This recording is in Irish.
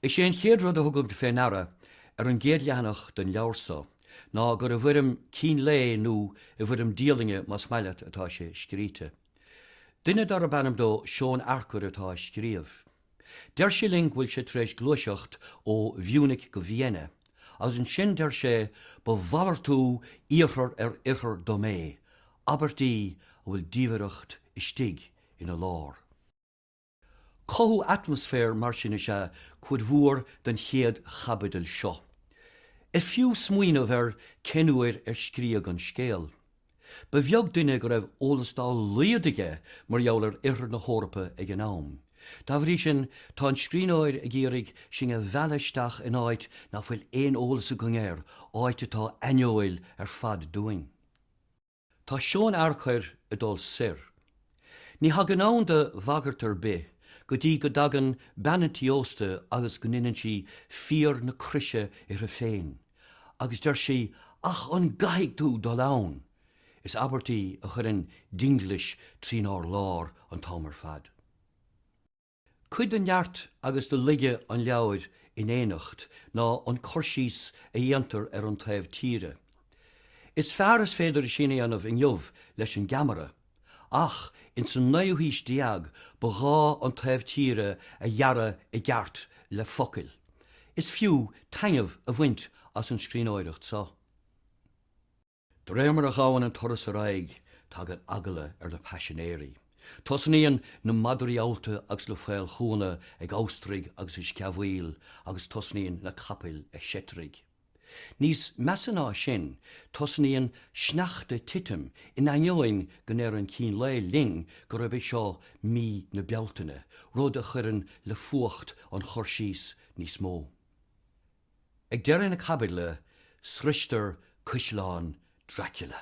Is é an chéad rud a thugaimid fé ndeara ar an gcéad leathanach den leabhar so ná gur i bhfuirm cín lae nó i bhfuirm dialainne más maith leat atá sé scríte. Duine darb ainm dó Seón Earcair atá á scríobh. Deir sé linn go bhfuil sé tar éis gluaiseacht ó Mhúnich go Vienna, agus ansin deir sé ba mhalartú Iarthar ar Oirthear dom é, abairt í a bhfuil diamhaireacht istigh ina lár. Cothú atmaisféir mar sin is ea cuid mhór den chéad chaibidil seo. Is fiú smaoineamh ar cén uair ar scríodh an scéal. Ba bheag duine go raibh eolas dá laghad aige mar gheall ar oirthear na hEorpa ag an am. Dá bhrí sin, tá an scríbhneoir ag iarraidh sinn a mhealladh isteach in áit ná fuil aon eolas againn air, áit atá aineoil ar fad dúinn. Tá Seón Earcair ag dul soir. Ní thagann ann do bhagairt ar bith go dtí go dtagann bean an tí ósta agus go ndeineann sí fíor na croise uirthi féin. Agus deir sí, Ach an gcaithfidh tú dul ann? Is abairt í a chuireann dinglis trínár lár an t-am ar fad. Cuid de neart agus de laige an leabhair in éineacht ná an cur síos a dhéantar ar an taobh tíre. Is fearr is féidir sin a dhéanamh inniu leis an gceamara. Ach ins an naoú haois déag ba ghá an taobh tíre a dhearadh i gceart le focail. Is fiú taitneamh a bhaint as an scríbhneoireacht so. D'réir mar a ghabhann an turas ar aghaidh tagann eagla ar na paisinéirí. Tosnaíonn na madraí allta agus na faolchúnna ag amhastraigh agus ag sceamhaíl agus tosnaíonn na capaill ag seitrigh. Níos measa ná sin, tosnaíonn sneachta ag titim in ainneoin go ndeir an cín lae linn gurb é seo mí na Bealtaine, rud a chuireann le fuacht an chur síos níos mó. Ag deireadh na caibidle, sroistear Caisleán Dracula.